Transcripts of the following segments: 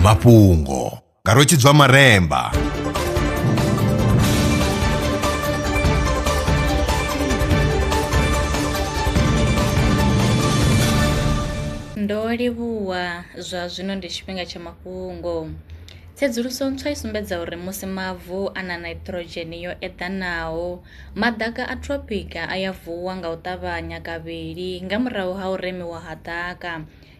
mafhungo nga rwetshidzwa maremba ndo livhuwa zwa zwino ndi tshifhinga tsha mafhungo Tsedzuluso ntswa i sumbedza uri musi mavu a na nitrogen yo eḓanaho, maḓaka a tropic a ya vuwa nga u ṱavhanya kavhili nga murahu ha u remiwa ha ḓaka.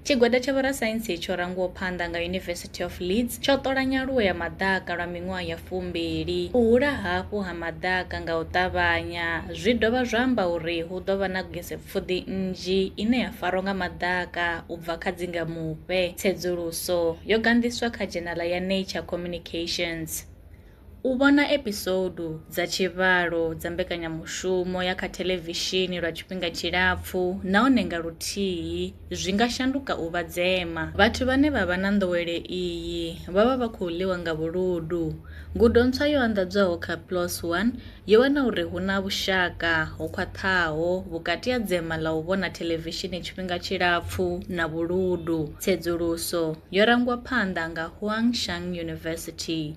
Tshigwada tsha vhorasaintsi tsho rangwaho phanḓa nga University of Leeds tsho ṱola nyaluwo ya maḓaka lwa miṅwaha ya fumbili. U hula hafhu ha maḓaka nga u ṱavhanya zwi dovha zwa amba uri hu ḓo vha na gesepfuḓi nnzhi ine ya farwa nga maḓaka u bva kha dzingamufhe. Tsedzuluso yo ganḓiswa kha dzhenala ya Nature Communications. U vhona episoudu dza tshivhalo dza mbekanyamushumo ya kha thelevishini lwa tshifhinga tshilapfu nahone nga luthihi zwi nga shanduka u vha dzema. Vhathu vhane vha vha na nḓowelo iyi vha vha vha khou ḽiwa nga vhuludu. Ngudo ntswa yo anḓadzwaho kha PLOS One yo wana uri hu na vhushaka ho khwaṱhaho vhukati ha dzema ḽa u vhona thelevishini tshifhinga tshilapfu na vhuludu. Tsedzuluso yo rangwa phanḓa nga Huang Shang University.